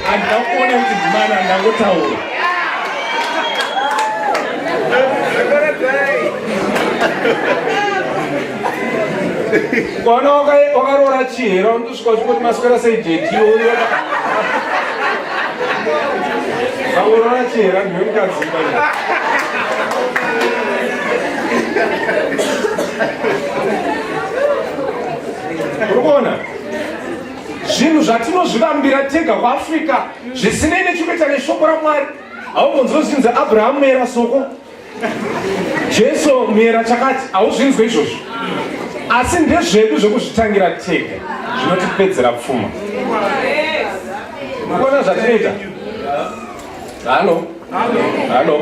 handina kuona kuti ndimana ndangotaura kwaona wakaroora chihera Chikoti maswera sei jeti iwe Aurora chihera ndiwe mukadzi kana. Urikuona? Zvinhu zvatinozvivambira tega kuAfrica zvisinei nechikuita neshoko raMwari. Haumbonzozvinzi Abraham era soko Jesu muyera chakati hauzvinzwe izvozvo asi ndezvedu zvekuzvitangira tega zvinotipedzera pfuma kuona zvatinoita halo halo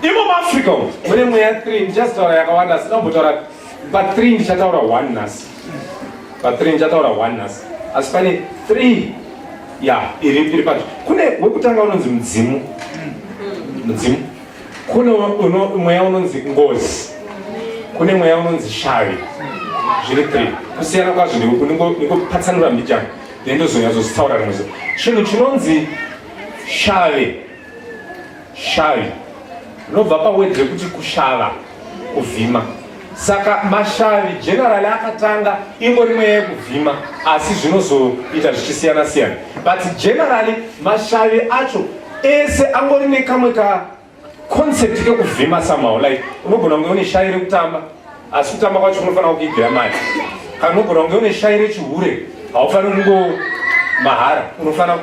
imo muafrica umu mune mweya 3 ndichazitaura yakawanda asi dambotaura pa 3 ndichataura 1 nhasi pa 3 ndichataura 1 nhasi asi pane 3 ya iri iri pacho kune wekutanga unonzi mudzimu mudzimu Kune mweya unonzi ngozi, kune mweya unonzi shavi, zviri three kusiyana kwazvo. Ndikupatsanura mbijana then ndozonyazozitaura rimwe zuva. Chinhu chinonzi shavi, shavi rinobva pawedhi rekuti kushava kuvhima saka mashavi generally akatanga ingori mweya yekuvhima asi zvinozoita zvichisiyana siyana but generally mashavi acho ese angori nekamwe ka concept kekuvhima somehow like unogona kunge une shavi rekutamba asi kutamba kwacho unofanira kukigira mari kana unogona kunge une shavi rechihure haufaniri kungo mahara unofanira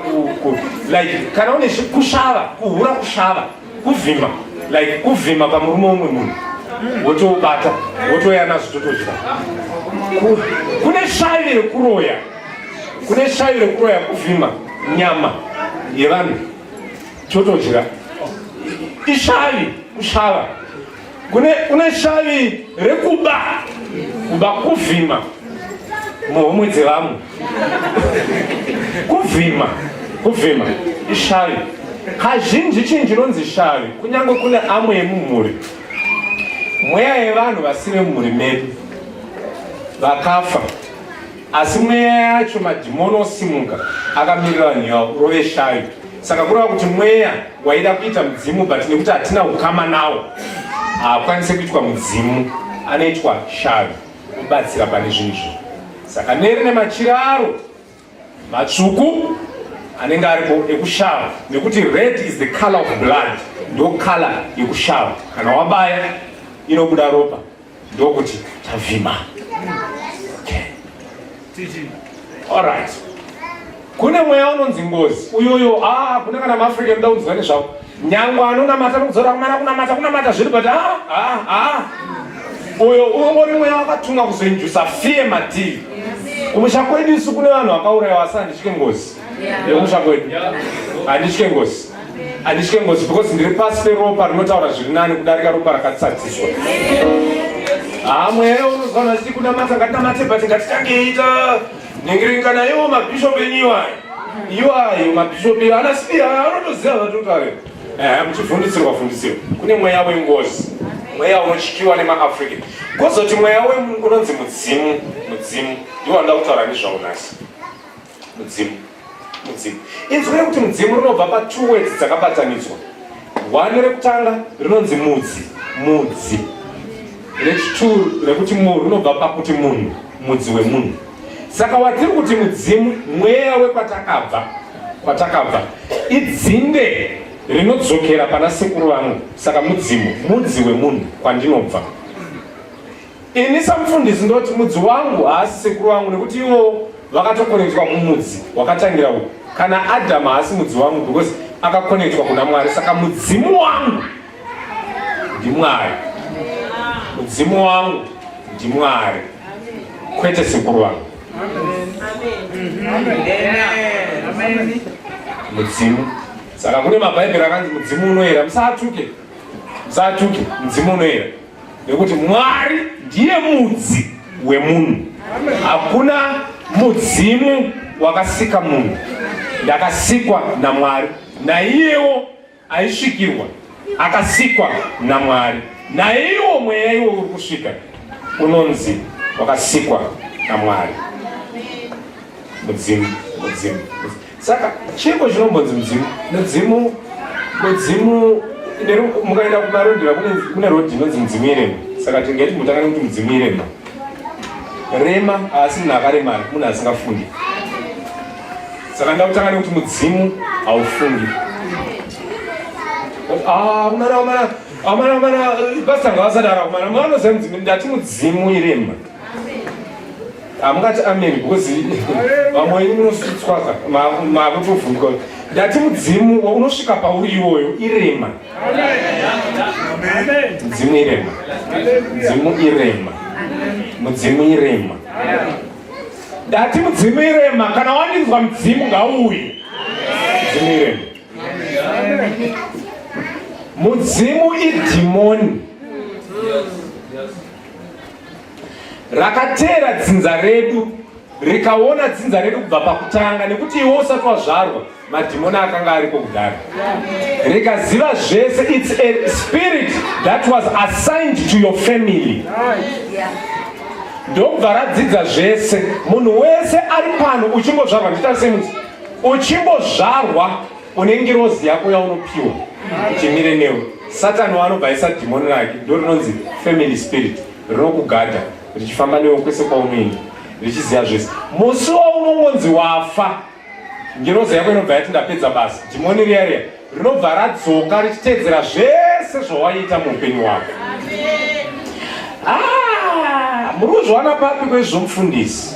like kana une kushava kuhura kushava kuvhima like kuvhima pamurume umwe munhu wotoubata wotoya nazvo totodya kune shavi rekuroya kune shavi rekuroya kuvhima nyama yevanhu totodya ishavi kushava kune kune shavi rekuba kuba kuvhima muhomwe dzevamwe kuvhima kuvhima ishavi kazhinji chinhu chinonzi shavi kunyange kune amwe yemumhuri mweya yevanhu vasive mumhuri medu vakafa Asi mweya yacho madhimoni osimuka akamirira vanhu yavo rove shayo. Saka kureva kuti mweya waida kuita mudzimu but nekuti hatina ukama nawo haakwanise kuitwa mudzimu anoitwa shayo kubatsira pane zvinhu izvo. Saka neri nemachira aro matsvuku anenge aripo ekushava nekuti red is the color of blood ndo color yekushava kana wabaya inobuda ropa ndokuti tavhima alright kune mweya unonzi ngozi uyoyo ah, kune kana maafrican da kunzwa nezvako nyangwe anonamata nokudzora kumana kunamata kunamata zviri but ah, ah, ah. uyo ungori mweya wakatumwa kuzoinjusa fie mativi kumusha kwedu isu kune vanhu vakaurayiwa asanditye ngozi nekumusha kwedu handitye ngozi handitye ngozi because ndiri pasi peropa rinotaura zviri nani kudarika ropa rakatsadziswa hamwe unozvana zii kunamata ngatinamate but ngatitangeita nyengerenkana iwo mabhishopi enyuwa iwa ayo mabhishopi ana sipi anotoziva vatotave eh, muchifundisirwa fundisirwa kune mweya wengozi mweya unotyiwa nemaafrica kozoti mweya unonzi mudzimu mudzimu iwo anoda kutaura nezvaunasi mudzimu mudzimu inzwi rekuti mudzimu rinobva pa two words dzakabatanidzwa one rekutanga rinonzi mudzi mudzi rechituru rekuti mu rinobva pakuti munhu mudzi wemunhu saka watiri kuti mudzimu mweya wekwatakabva kwatakabva idzinde rinodzokera pana sekuru vangu saka mudzimu mudzi wemunhu kwandinobva Ini samufundisi ndoti mudzi wangu haasi sekuru wangu nekuti iwo vakatokonekitwa kumudzi wakatangira uku. Kana Adhamu haasi mudzi wangu because akakonekitwa kuna Mwari. Saka mudzimu wangu ndiMwari. Mudzimu wangu ndiMwari. Kwete sekuru wangu. Mudzimu. Saka kune mabhaibheri akanzi mudzimu unoera. Musatuke. Musatuke. Mudzimu unoera. Nekuti Mwari ndiye mudzi wemunhu. Hakuna mudzimu wakasika munhu. Ndakasikwa naMwari. Naiyewo aisvikirwa akasikwa naMwari. Naiwo mweya iwo uri kusvika unonzi wakasikwa naMwari. Mudzimu, mudzimu. Saka chiiko chinombonzi mudzimu? Mudzimu mudzimu mukaenda kumarondera kune rodhi inonzi mudzimu irema. Saka tingaiti mutanga nekuti mudzimu irema. Rema haasi munhu akaremara, munhu asingafundi. Saka ndakutanga nekuti mudzimu haufundi. Ah, mwana mwana amana amana basa ngavasadara kumana mwana zvanzi ndati mudzimu irema hamungati amen because vamwe wenyu munositswaza makutovhunduka ndati mudzimu unosvika pauri iwoyo irema mudzimu irema mudzimu irema mudzimu irema ndati mudzimu irema kana waninzwa mudzimu ngauye mudzimu irema mudzimu idhimoni rakateera dzinza redu rikaona dzinza redu kubva pakutanga nekuti iwe usati wazvarwa madhimoni akanga ariko kudaro rikaziva zvese its a spirit that was assigned to your family ndokubva radzidza zvese munhu wese ari pano uchingozvarwa nditarise muti uchingozvarwa une ngirozi yako yaunopiwa chimire newe satani waanobva aisa dhimoni rake ndo rinonzi family spirit rinokugadha richifamba newe kwese kwaunoenda richiziva zvese musi waunongonzi wafa ngirozi yako inobva yati ndapedza basa dhimoni riya riya rinobva radzoka richitedzera zvese zvawaiita muupenyu wako ah, muri kuzviwana papi kwezvomufundisi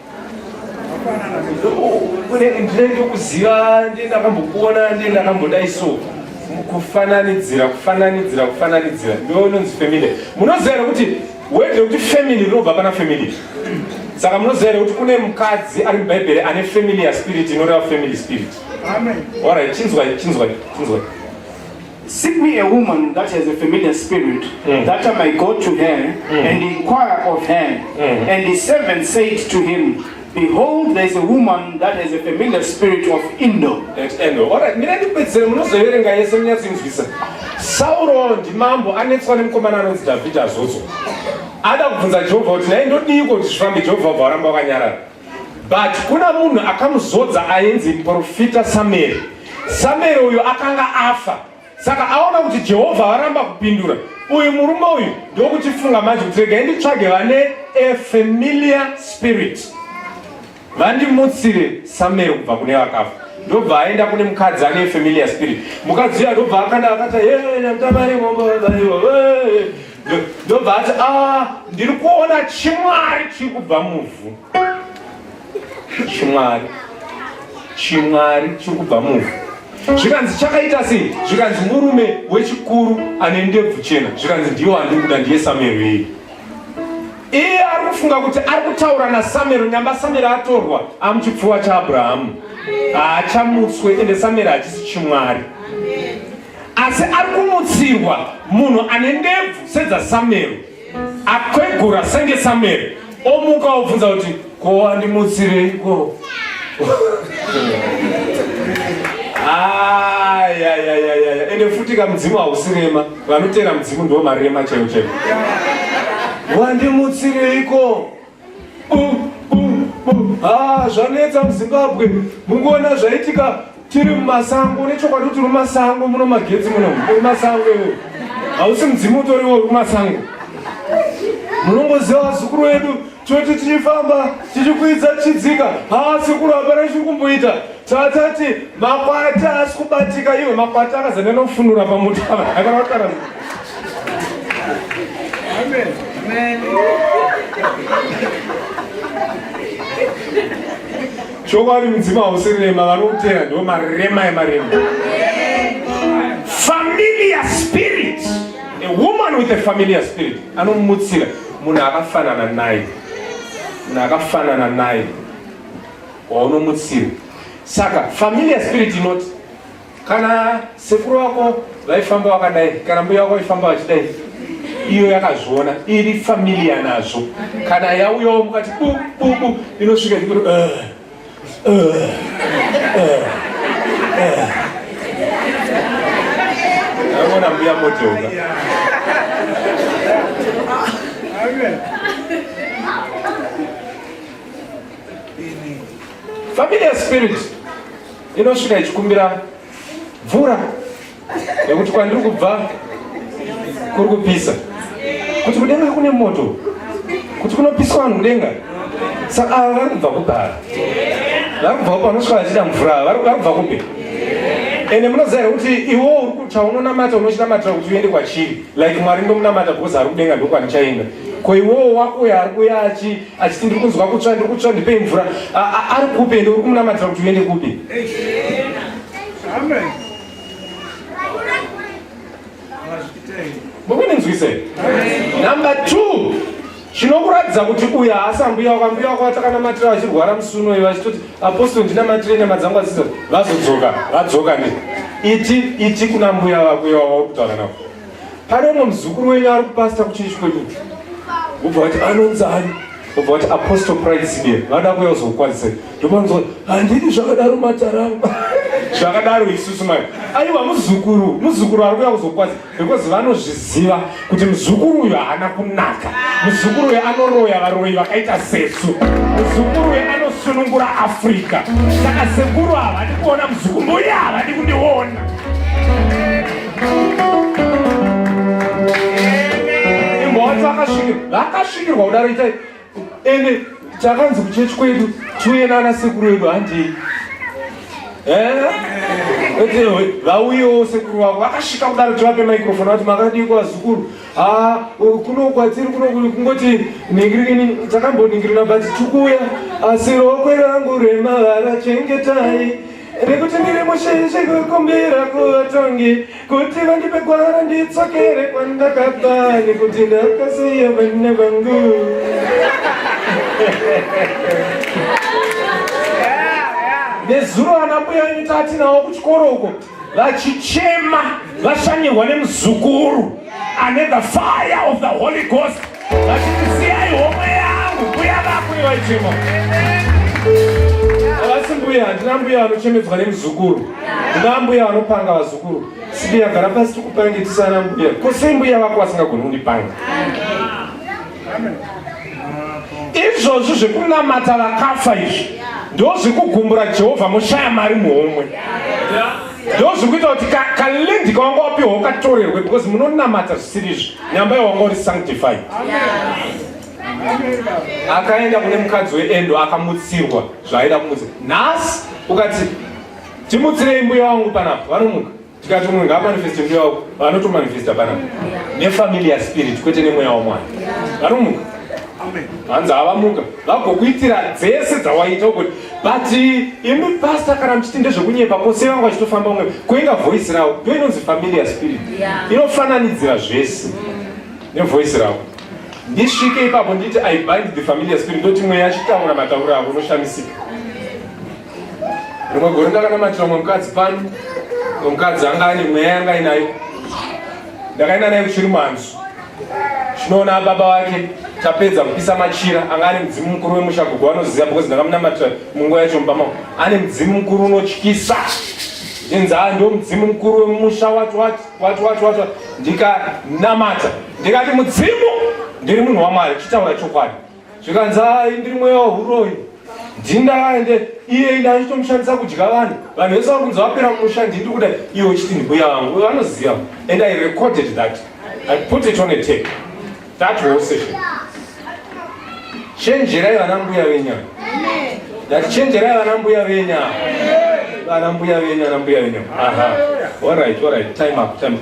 ndinenge kuziva ndiye ndakambokuona ndiye ndakambodai so kufananidzira kufananidzira kufananidzira ndoinonzi family munoziva here kuti word rekuti family rinobva pana family saka munoziva here kuti kune mukadzi ari mubhaibheri ane family yaspirit inoreva family spirit orit chinzwai chinzwai chinzwai Seek me a woman that has a familiar spirit, mm. that I might go to her mm. and inquire of her. Mm. And the servant said to him, Behold, there is a woman that has a familiar spirit of Indo. That Indo. All right, mina ndipedzere munozoverenga yese munyatsinzwisa. Sauro ndimambo anetswa nemukomana anonzi Dhavhidhi azodzwa. Ada kubvunza Jehovha kuti naye ndodiiko kuti zvifambe Jehovha varamba vakanyarara. But kuna munhu akamuzodza ainzi muprofita Samueri. Samueri uyu akanga afa, saka aona kuti Jehovha varamba kupindura. Uyu murume uyu ndokutifunga manje kuti regai nditsvage vane a familiar spirit vandimutsire Samueri kubva kune vakafa. Ndobva aenda kune mukadzi ane familiar spirit. Mukadzi uyu ndobva akanda akati, "Hey, ndamtama ari mombo, hey, ndobva ati ah, ndiri kuona chimwari chiri kubva muvhu chimwari chimwari chiri kubva muvhu zvikanzi chakaita sei zvikanzi murume wechikuru ane ndebvu chena zvikanzi ndiyo handiri kuda ndiye samero iyi iye ari kufunga kuti ari kutaura nasamero nyamba samero atorwa amuchipfuwa chaabrahamu haachamutswe ende samero hachisi chimwari Asi ari kumutsirwa munhu ane ndebvu sedzaSamueri, akwegura senge Samueri, omuka obvunza kuti ko wandimutsireiko? Ayayayaya, ende futi ka mudzimu hausi rema, vanoteera mudzimu ndiwo marema chaiwo chaiwo. Wandimutsireiko? Ah, zvanetsa muzimbabwe mungoona zvaitika tiri mumasango nechokwadi kuti rumasango muno magetsi muno rumasango iwo hausi mudzimu utoriwo rumasango munongoziva vazukuru vedu toti tichifamba tichikwidza tichidzika haa sekuru hapana chiri kumboita tatati makwata asi kubatika iwe makwata akazanena kufunura pamotara akaraotara Amen. Amen. chokwadi mudzimu hausi rema vanoteya ndo marema emarema familiar spirit a woman with a familiar spirit anomutsira munhu akafanana naye munhu akafanana naye waunomutsira saka familiar spirit inoti kana sekuru wako vaifamba wakadai kana mbuya wako vaifamba vachidai iyo yakazviona iri familia nazvo kana yauyawo mukati bububu inosvika ikuru eh, eh, eh, aona mbuya motoka familia spirit inosvika ichikumbira mvura nekuti kwandiri kubva kuri kupisa kuti kudenga kune moto kuti kunopiswa vanhu kudenga saka ava vari kubva kubhara vari kubva kupi vanosvika vachida mvura vari kubva kupi ende munoziva here kuti iwo chaunonamata unochinamatira kuti uende kwachiri like mwari ndomunamata because ari kudenga ndokwanichaenda ko iwowo wako uyo ari kuya achi achiti ndiri kunzwa kutsva ndiri kutsva ndipei mvura ari kupi ende uri kumunamatira kuti uende kupi mukunenzwisei number two chinokuratidza kuti uyu haasi ambuya wako ambuya wako vatakanamatira vachirwara musi unoyi vachitoti apostol ndinamatire nyama dzangu aziza vazodzoka vadzoka ne iti iti kuna mbuya vako iwavauri kutaura navo pane umwe muzukuru wenyu ari kupasita kuchechi kwedu vobva vati anonzi ani vobva vati apostle pride sibie vada kuya uzokukwazisei ndomanzwa handidi zvakadaro mataramba zvakadaro isusu mai aiwa muzukuru muzukuru ari kuya kuzokwazisa because vanozviziva kuti muzukuru uyu haana kunaka muzukuru uyu anoroya varoyi vakaita sesu muzukuru uyu anosunungura africa saka sekuru havadi kuona muzukuru mbuya havadi kundiona vakasvikirwa kudaro itai ende chakanzi kuchechi kwedu tiuye nana sekuru vedu handei vauyewo sekuru vavo vakasvika kudaro tivape microfone vati makadii kwazukuru ah, kuno kwatiri kuno kungoti ningirini takamboningirina but tikuuya asi rokwe rangu remavara chengetai nekuti ndiri mushinji kukumbira kuvatongi kuti vandipe gwara nditsokere kwandakabva nekuti ndakasiya vana vangu nezuro vana mbuya venyu tatinawo kuchikoro uko vachichema vashanyirwa nemuzukuru ane the fire of the holy ghost vachiti siyai homwe yangu mbuya vako ivaichema avasi mbuya handina mbuya vanochemedzwa nemuzukuru ndina mbuya vanopanga vazukuru sibuya gara pasi tikupange tisana mbuya ko sei mbuya vako vasingagoni kundipanga izvozvi zvekunamata vakafa izvi ndozvekugumbura jehovha moshaya mari muhomwe yeah. ndozviri kuita kuti kalendi kawanga wapiwa wakatorerwe because munonamata zvisiri izvi nyamba yawanga uri sanctified akaenda kune mukadzi weendo akamutsirwa zvaaida kumutsa nhasi ukati timutsirei mbuya wangu panapa vanomuka tikati munhu ngamanifeste mbuya wako vanotomanifesta panapa nefamily yaspirit kwete nemweya wamwana vanomuka hanzi havamuka vagokuitira dzese dzawaita ukuti but eh, imi pastor kana muchiti ndezvekunyepa kose vanga vachitofamba umwe kuinga voice ravo ndo inonzi familiar spirit inofananidzira zvese nevoice ravo ndisvike ipapo nditi i bind the familiar spirit ndoti mweya achitaura matauro avo unoshamisika rimwe gore ndakanamatira mwe mukadzi pano mukadzi anga ane mweya yanga inayo ndakaenda naye kuchiri manzwi Zvinoona baba wake tapedza kupisa machira anga ari mudzimu mukuru wemusha gogo vanoziva because ndakamunamatira munguva yacho mubama ane mudzimu mukuru unotyisa zvinzi haa ndo mudzimu mukuru wemusha wati wati wati wati wati ndikanamata ndikati mudzimu ndiri munhu wamwari chitaura chokwadi zvikanzi hayi ndiri mweya wahuroyi ndindaende iye ine achitomushandisa kudya vanhu vanhu vese vari kunzi vapera mumusha ndindi kuda iwe uchiti ndimbuya vangu vanoziva and i recorded that i put it on a tape that whole session chenjerai vana mbuya venya ndati chenjerai vana mbuya venya vana mbuya venya vana mbuya venya aha all right all right time up time up.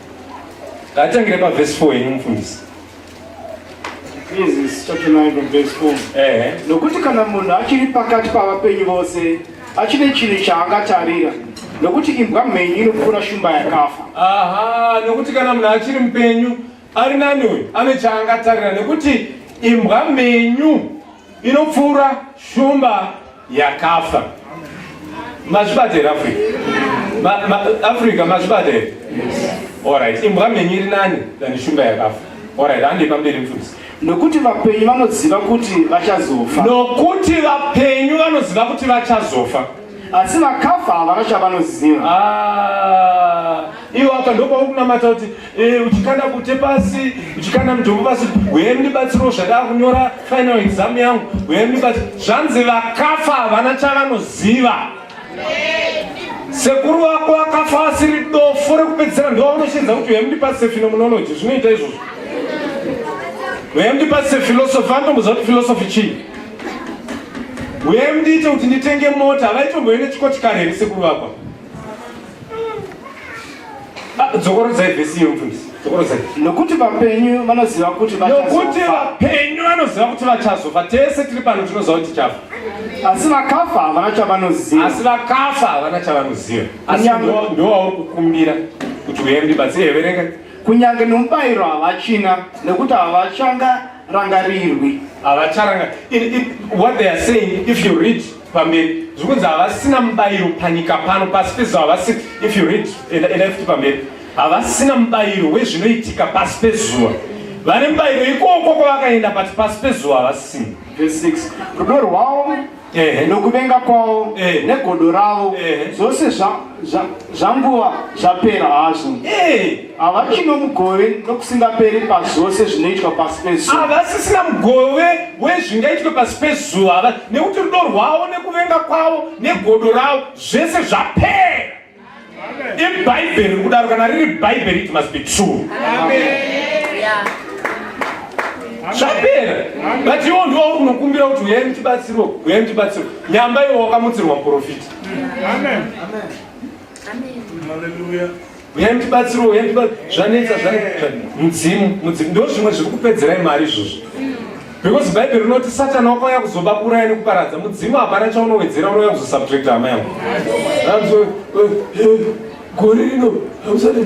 Ngatangire pa verse 4 ino mufundisi. Genesis chapter 9 from verse 4. Eh. Nokuti kana munhu achiri pakati pavapenyu vose achine chinhu chaangatarira nokuti imbwa mhenyu inopfuura shumba yakafa. Aha, nokuti kana munhu achiri mupenyu ari nani uyu ane chaangatarira nekuti imbwa mhenyu inopfuura shumba yakafa mazvibata here africa ma, ma, africa mazvibata here orit imbwa mhenyu iri nani than shumba yakafa orit handei pamberi mfundisi nokuti vapenyu vanoziva kuti vachazofa nokuti vapenyu vanoziva kuti vachazofa asi vakafa havana chavanoziva ah, iwo apa ndopauri kunamata kuti Eh, uchikanda kute pasi uchikanda mudhombo pasi huye ndibatsiro zvadaa kunyora final exam yangu huye ndibatsiro zvanzi vakafa havana chavanoziva sekuru wako akafa asiri dofo rekupedzisira ndovaunoshedza kuti huye mundipasise phenomenology zvinoita izvozvo huye mundipasise philosophy anotomboziva kuti philosophy chii huye mundiite kuti nditenge mota havaitomboende chikochikare here sekuru vakwa Ah, dzokorodzai vhesi iyo mfundisi dzokorodzai nokuti vapenyu vanoziva kuti nokuti vapenyu vanoziva kuti vachazofa tese tiri pano tinoziva kuti tichafa asi vakafa havana chavanoziva asi vakafa havana chavanoziva asi ndowauri kukumbira kuti uye ndibatsire verenga kunyange nomubayiro havachina nekuti havachanga rangarirwi havacharanga what they are saying if you read pamberi zvikunzi havasina mubayiro panyika pano pasi pezuva havasi if you read endai futi pamberi havasina mubayiro wezvinoitika pasi pezuva vane mubayiro ikoko kwavakaenda pati pasi pezuva havasina verse 6 rudo rwavo nokuvenga kwavo negodo ravo zvose Zvanguva zvapera hazvo. Eh. Havachino hey. mugove nokusingaperi pazvose zvinoitwa pasi pezuva. Havasisina mugove wezvingaitwe pasi pezuva nekuti rudo rwavo nekuvenga kwavo negodo ravo zvese zvapera. Ibhaibheri riri kudaro kana riri bhaibheri it must be true. Zvapera. But iwo ndiwo uri kunokumbira kuti uyai muchibatsirwa, uyai muchibatsirwa. Nyamba iwo wakamutsirwa muprofita. Amen. Amen. Amen. Hallelujah. Uyai mutibatsiro, uyai mutibatsiro. Zvanetsa, zvanetsa. Mudzimu, mudzimu. Ndoo zvimwe zviri kupedzerai mari izvozvo. Because Bible rinoti Satan wakauya kuzoba kuraya nekuparadza. Mudzimu hapana chaunowedzera unouya kuzosubtract hama yangu. Gore rino hamusati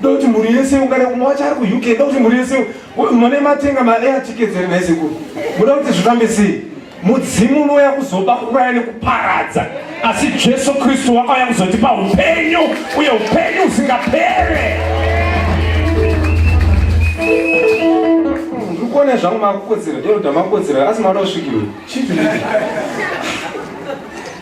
Ndokuti mhuri yese ungare umwe wacho ari kuUK ndokuti mhuri yese mune matenga maair tickets here nhai sekuru muda kuti zvifambe sei mudzimu unouya kuzoba kuraya nekuparadza asi jesu kristu wakauya kuzotipa upenyu uye upenyu usingapere ndikuona zvangu makukodzera eroda makodzera asi maona usvikirwe chii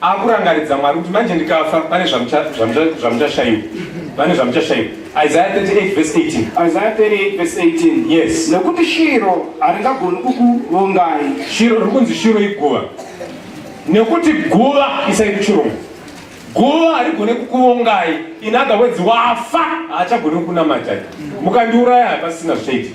akurangaridza mwari kuti manje ndikafa pane zvamuchashaiwa pane zvamuchashaiwa isaya 38 vese 18 isaya 38 vese 18 yes nekuti shiro haringagoni kukuvongai shiro riri kunzi shiro iguva nekuti guva isai kuchirongo guva harigone kukuvongai inagawedzi wafa haachagoni kukunamatai mukandiuraya hapasina zvichaitika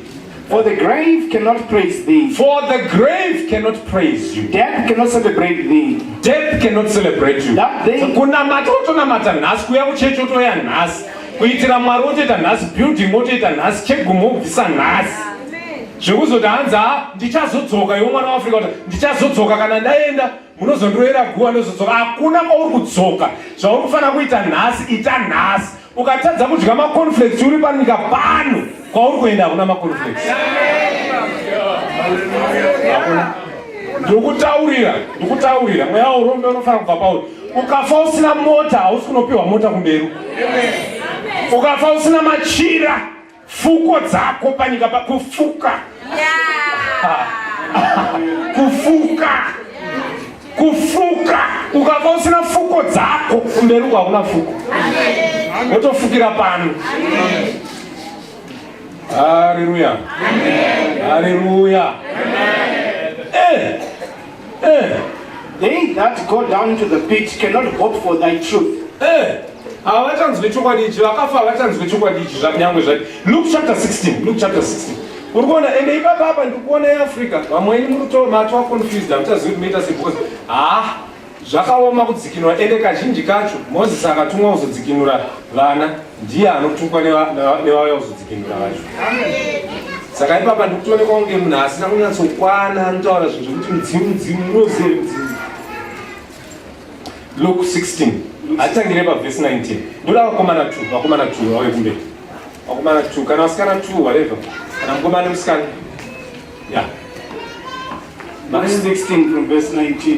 For the grave cannot praise thee. For the grave cannot praise you. Death cannot celebrate thee. Death cannot celebrate you. That day. Kunamata wotonamata nhasi kuya kuchechi wotoya nhasi kuitira mwari wotoita nhasi building wotoita nhasi chegumo wobvisa nhasi zvekuzoti hanzi ha ndichazodzoka iwo mwana waafrica kuti ndichazodzoka kana ndaenda munozondiroera guva ndozodzoka hakuna kwauri kudzoka zvauri kufanira kuita nhasi ita nhasi Ukatadza kudya maconflex uri panyika pano kwauri kuenda hakuna maconflex. Ndikutaurira, ndikutaurira mweya urombe unofanira kubva pauri. Ukafa usina mota hausi kunopiwa mota kumberi. Ukafa usina machira Fuko dzako panyika pakufuka. Yeah. kufuka. Kufuka. Ukava usina fuko dzako kumberi uko hakuna fuko. Wotofukira pano. Haleluya. Haleluya. Eh. Eh. They that go down into the pit cannot hope for thy truth. Eh. Havachanzwe chokwadi ichi, vakafa havachanzwe chokwadi ichi zvanyangwe zvake. Luke chapter 16, Luke chapter 16. Uri kuona ende ipapa apa ndiri kuona yeAfrica, vamwe ini muri kuto matwa confused, hamuchazivi kuti moita sei because ah zvakaoma kudzikinura ende kazhinji kacho Moses akatumwa kuzodzikinura vana ndiye anotukwa nevauya kuzodzikinura vacho saka ipapa ndikutoonekwa kunge munhu asina kunyatsokwana anotaura zvinhu zvekuti mudzimu mudzimu unozive mudzimu luk 16 atitangire pavhesi 19 ndoda vakomana t vakomana t vauye kumberi vakomana t kana vasikana t whatever kana mukomana nemusikana ya yeah. 16 from verse 19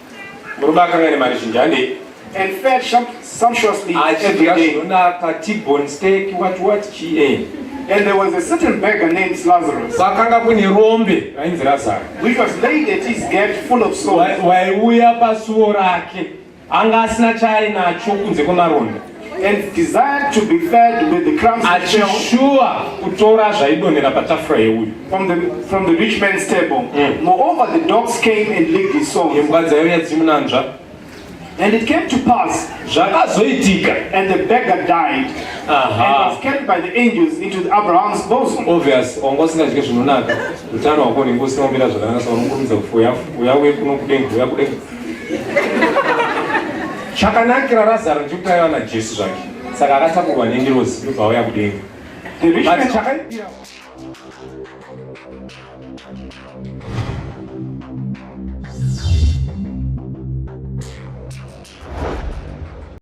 Murume akanga ane mari zhinji handei? And fed sumptuously every day. Achidya T-bone steak, what what GA. And there was a certain beggar named Lazarus. Pakanga kune rombe rainzi Lazaro. Which was laid at his gate full of sores. Waiuya pasuo rake. Anga asina chaainacho kunze kwemaronda. and desired to be fed with the crumbs achishuwa kutora zvaidonhera patafura yeuyu from the, from the rich man's table mm. moreover the dogs came and licked his soul imbwa dzaiuya dzimunanzva And it came to pass zvakazoitika and the beggar died Aha. and was carried by the angels into Abraham's bosom. Obvious wanga usingazvike zvinonaka utano hwako unenge usingaomira zvakanaka saka unokurumidza kufuya uya uye kuno kudenga uya kudenga chakanakira razaro ndikuti aiva najesu zvake saka akatakurwa nengirozi ndobva auya kudenga